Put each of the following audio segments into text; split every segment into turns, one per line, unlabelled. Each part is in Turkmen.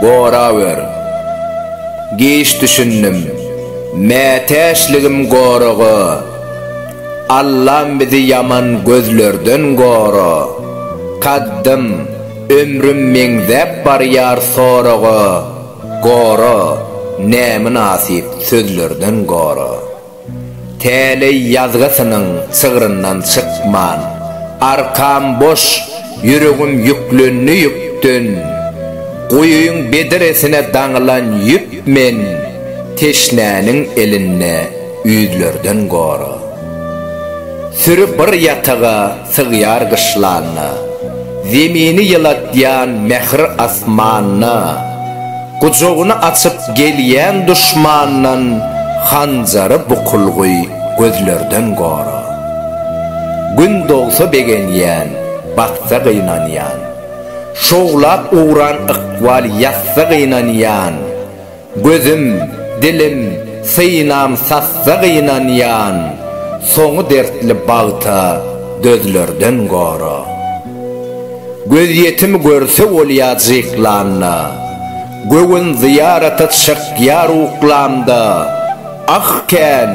Gorawer. Giç düşündim. Mätäçligim goraga. Allam bizi ýaman gözlerden gora. Kaddym, ömrüm meňzäp barýar soraga. Gora, nämynasyp sözlerden gora. Täleý ýazgysynyň çygryndan çykman, Arkam boş, ýüregim ýüklendi ýükden, Guýyň bedresine daňylan ýüp men, Teşnäniň elinde ýüzlerden gora. Süri bir ýataga, sygýar gyşlanyna, Zemini ýylatýan mähri asmanyna, Gujagyny açyp gelýän duşmandan Hanjary bukulgy gözlerden gora. Gün dogsa begenýän, batsa gynanýan, Şowlap ugran ykbal ýatsa gynanýan, Gözüm, dilim, synam sassa gynanýan, soňy dertli bagta dözlerden gora. Gözýetimi görse bolýa jyklanda, göwün zyýarata çykýar uklanda, ah kän,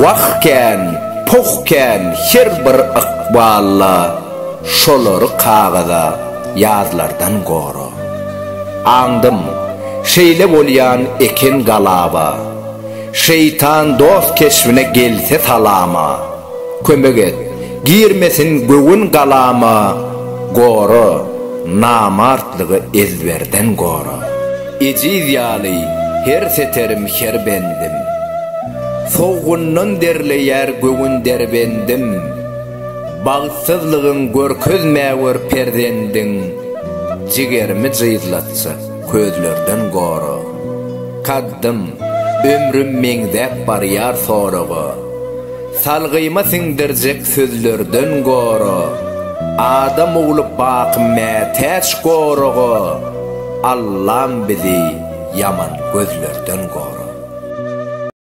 wah kän, poh kän her bir ykballa, şolary kagyza ýazlardan gora. Aňdym, şeýle bolýan eken galaba. Şeýtan dost keşbine gelse salama. Kömek et, girmesin göwün galama, Gora, namartlygy ezberden gora. Ejiz ýaly her seterim, her bendim, Sowgundan derleýär göwün derbendim. Bagtsyzlygyň görkezme gör perzendiň Jigerimi jyzlatsa, közlerden gora. Kaddym, ömrüm meňzäp barýar soraga, Salgyma siňdirjek sözlerden gora. Adam ogly baky mätäç goraga, Allam bizi ýaman gözlerden gora.